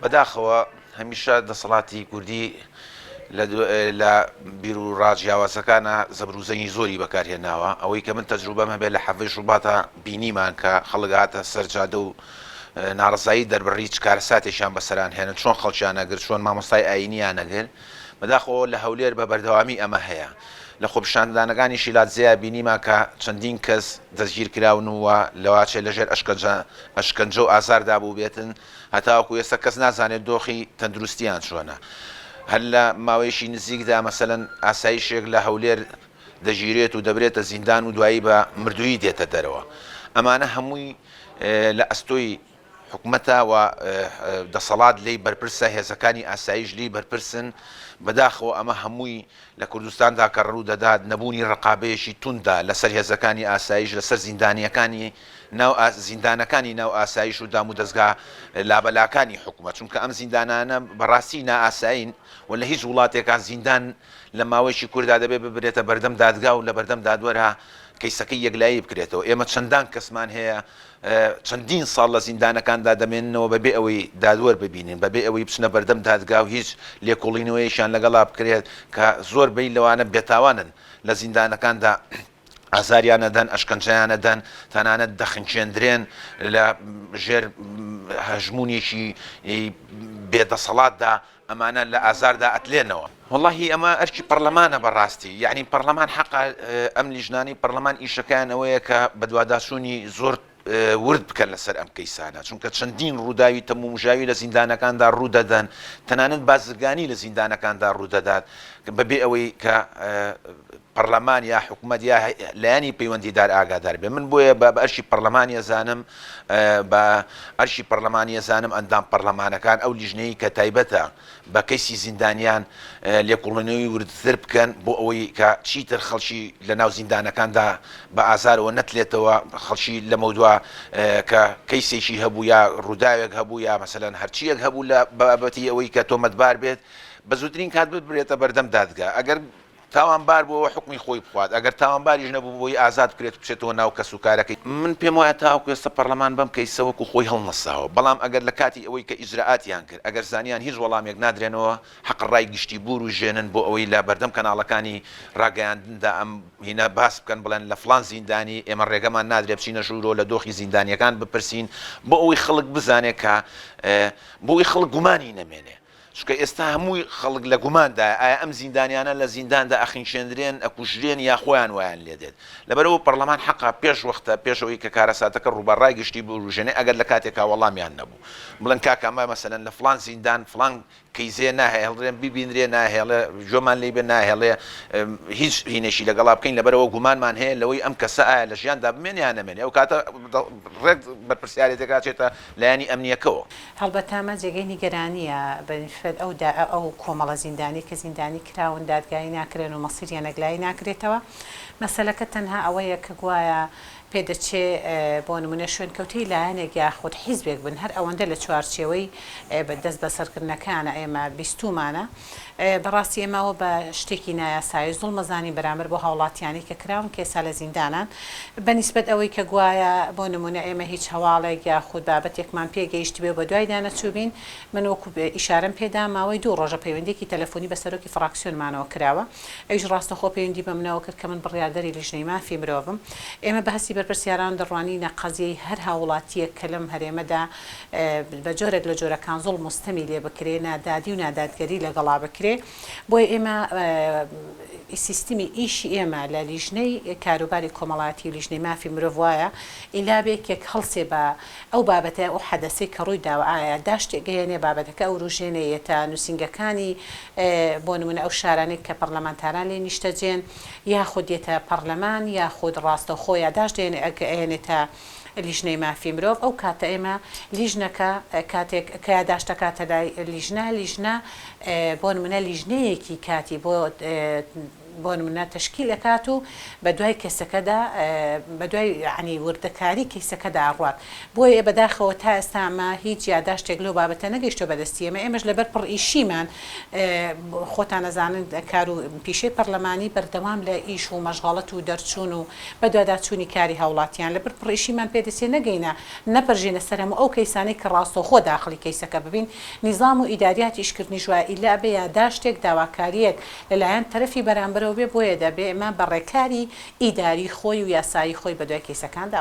بەداخەوە هەمیشە دەسەڵاتی کوردی لە بیر و ڕا جیاوازەکانا زەبر و زەنگی زۆری بەکار هێناوە، ئەوەی کە من تەجروبەم هەبێ لە حەڤەی شوباتا بینیمان کە خەڵک هاتە سەر جادە و ناڕەزایی دەربڕی چ کارەساتێکیان بەسەران هێنا چۆن خەڵکیان ئەگرت چۆن مامۆستای ئایینیان ئەگرت بەداخەوە لە هەولێر بە بەردەوامی ئەمە هەیە لە خۆپیشاندانەکانی شیلادزێیا بینیمان کە چەندین کەس دەستگیر کراون و لەواچێ لەژێر ئەشکەنجە ئەشکەنجە و ئازاردا بووبێتن هەتاوەکو ئێستا کەس نازانێت دۆخی تەندروستییان چۆنە، هەر لە ماوەیەکی نزیکدا مەسەلەن ئاسایشێک لە هەولێر دەگیرێت و دەبرێتە زیندان و دوایی بە مردوویی دێتە دەرەوە، ئەمانە هەمووی لە ئەستۆی حکومەتە و دەسەڵات لێی بەرپرسە، هێزەکانی ئاسایش لێی بەرپرسن، بەداخەوە ئەمە هەمووی لە کوردستاندا کە ڕوو دەدات، نەبوونی ڕقابەیەکی توندە لە سەر هێزەکانی ئاسایش لە سەر زیندانییەکانی ناو زیندانەکانی ناو ئاسایش و دامودەزگا لابەلاکانی حکومەت، چونکە ئەم زیندانانە بە ڕاستی نائاسایین و لە هیچ وڵاتێکا زیندان لە ماوەیەکی کوردا دەبێ ببرێتە بەردەم دادگا و لە بەردەم دادوەرا کەیسەکەی یەکلایی بکرێتەوە، ئێمە چەندان کەسمان هەیە چەندین ساڵ لە زیندانەکاندا دەمێننەوە بەبێ ئەوەی دادوەر ببینن، بەبێ ئەوەی بچنە بەردەم دادگا و هیچ لێکۆڵینەوەیەکیان لەگەڵا بکرێت، کە زۆربەی لەوانە بێتاوانن، لە زیندانەکاندا ئازاریان ئەدەن، ئەشکەنجەیان ئەدەن، تەنانەت دەخنکێندرێن، لە ژێر هەژموونێکی بێدەسەڵاتدا ئەمانە لە ئازاردا ئەتلێنەوە. وەڵاهی ئەمە ئەرکی پەڕلەمانە بەڕاستی یەعنی پەڕلەمان حەقە ئەم لیژنانەی پەڕلەمان ئیشەکەیان ئەوەیە کە بەدواداچوونی زۆر ورد بکەن لەسەر ئەم کەیسانە چونکە چەندین ڕووداوی تەمومژاوی لە زیندانەکاندا ڕوودەدەن تەنانەت بازرگانی لە زیندانەکاندا ڕوودەدات بەبێ ئەوەی کە پەڕلەمان یا حکومەت یا لایەنی پەیوەندیدار ئاگادار بێت من بۆیە بە ئەرکی پەڕلەمانی ئەزانم بە ئەرکی پەڕلەمانی ئەزانم ئەندام پەڕلەمانەکان ئەو لیژنەی کە تایبەتە بە کەیسی زیندانیان لێکوڵێنەوەی وردتر بکەن بۆ ئەوەی کە چیتر خەڵکی لە ناو زیندانەکاندا بە ئازارەوە نەتلێتەوە خەڵکی لەمەودوا کە کەیسێکی هەبوو یا ڕووداوێک هەبوو یا مەسەلەن هەرچیەک هەبوو لە بابەتی ئەوەی کە تۆمەتبار بێت بە زووترین کات ببرێتە بەردەم دادگا ئەگەر تاوانبار بووەوە حوکمی خۆی بخوات، ئەگەر تاوانباریش نەبووبووی ئازاد بکرێت و بچێتەوە ناو کەسوکارەکەی. من پێم وایە تاوەکو ئێستا پەڕلەمان بەم کەیسە وەکو خۆی هەڵنەساوە، بەڵام ئەگەر لە کاتی ئەوەی کە ئیجرائاتیان کرد ئەگەر زانیان هیچ وەڵامێک نادرێنەوە حەقە ڕای گشتی بورووژێنن بۆ ئەوەی لە بەردەم کەناڵەکانی ڕاگەیاندندا ئەم هینە باس بکەن بڵێن لە فڵان زیندانی ئێمە ڕێگەمان نادرێت بچینە ژوورۆ لە دۆخی زیندانیەکان بپرسین بۆ ئەوەی خەڵک بزانێت کە بۆ ئەوەی خەڵک گومانی نەمێنێت. چونکە ئێستا هەمووی خەڵک لە گوماندایە ئایا ئەم زیندانیانە لە زینداندا ئەخنکێندرێن، ئەکوژرێن یا خۆیان وایان لێدێت. لەبەرئەوە پەڕلەمان حەقە پێش وەختە پێش ئەوەی کە کارەساتەکە ڕوو بە ڕای گشتی بوروژێنێ ئەگەر لە کاتێکا وەڵامیان نەبوو بڵێن کاک ئەمە مەسەلەن لە فڵان زیندان فڵان کەیزێ ناهێڵرێن ببینرێ ناهێڵێ گوێمان لێی بێ ناهێڵێ هیچ هینێکی لەگەڵا بکەین لەبەرئەوە گومانمان هەیە لەوەی ئەم کەسە ئایا لە ژیاندا بمێنێ یا نەمێنێ ئەو کاتە ڕێک بەرپرسیارێتێکا چێتە لایەنی ئەمنییەکەوە. هەڵبەتە ئەمە جێگەی نیگەرانییە بەنیسبەت ئەو داعش و ئەو کۆمەڵە زیندانیەی کە زیندانی کراون دادگایی ناکرێن و مەسیریان یەکلایی ناکرێتەوە، مەسەلەکە تەنها ئەوەیە کە گوایە پێدەچێ بۆ نمونە شوێنکەوتەی لایەنێک یاخود حیزبێک بن هەر ئەوەندە لە چوارچێوەی دەستبەسەرکردنەکانە ئێمە بیستومانە بەڕاستی ئێمە ئەوە بە شتێکی نایاسایی زوڵمەزانی بەرامبەر بۆ هاوڵاتیانی کە کراون کە ئێستا لە زیندانان بە نیسبەت ئەوەی کە گوایە بۆ نمونە ئێمە هیچ هەواڵێک یاخود بابەتێکمان پێ گەیشتبێ و بە دوایدا نەچووبین من وەکو ئیشارەم پێدا ماوەی دوو ڕۆژە پەیوەندیەکی تەلەفۆنی بە سەرۆکی فڕاکسیۆنمانەوە کراوە ئەویش ڕاستەخۆ پەیوەندی بەمنەوە کرد کە من بڕیاردەری لیژنەی مافی مرۆڤم ئێمە بە هەستی بەرپرسیاران دەڕوانینە قەزیەی هەر هاووڵاتیەک کە لەم هەرێمەدا بە جۆرێک لە جۆرەکان زوڵم و ستەمی لێ بکرێ، نادادی و نادادگەری لەگەڵا بکرێ، بۆیە ئێمە سیستمی ئیشی ئێمە لە لیژنەی کاروباری کۆمەڵایەتی و لیژنەی مافی مرۆڤ وایە ئیلا بێکێک هەڵسێ بە ئەو بابەتە ئەو حەدەسەی کە ڕووی داوە ئایا داشتێ گەیەنێ بابەتەکە ئەوروژێنێ یەتە نووسینگەکانی بۆ نموونە ئەو شارانەی کە پەڕلەمانتاران لێی نیشتەجێن یاخود یەتە پەڕلەمان یاخود ڕاستەوخۆ یا داشت دێنێ ئەگەیەنێتە لیژنەی مافی مرۆڤ ئەو کاتە ئێمە لیژنەکە کاتێک کە یاداشتەکاتە لای لیژنە لیژنە بۆن منە لیژنەیەکی کاتی بۆ بۆن منە تشکیل ئەکات و بە دوای کەسەکەدا بە دوای عنی وردەکاری کەیسەکەدا ئەڕات بۆیە بەداخەوە تا ئێستامە هیچ یاداشتێک لەو بابەتە نەگەیشتۆ بەدەستی ئێمە ئێمەش لەبەر پڕ ئیشیمان خۆتان ئەزانن کار و پیشەی پەرلەمانی بەردەوام لە ئیش و مەشغەڵەت و دەرچوون و بەدواداچوونی کاری هاوڵاتیان لەبەر پڕئیشیمان پێدەچێ نەگەینە نەپەرژێنە سەر هەموو ئەو کەیسانەی کە ڕاستەوخۆ داخڵی کەیسەکە ببین نیزام و ئیداریاتی ئیشکردنیش وایە ئیللا ئەبێ یاداشتێک داواکاریەک لەلایەن تەرەفی بەرامبەرەوە بێ بۆیە دەبێ ئمە بەڕێکاری ئیداری خۆی و یاسایی خۆی بەدوای کەیسەکاندا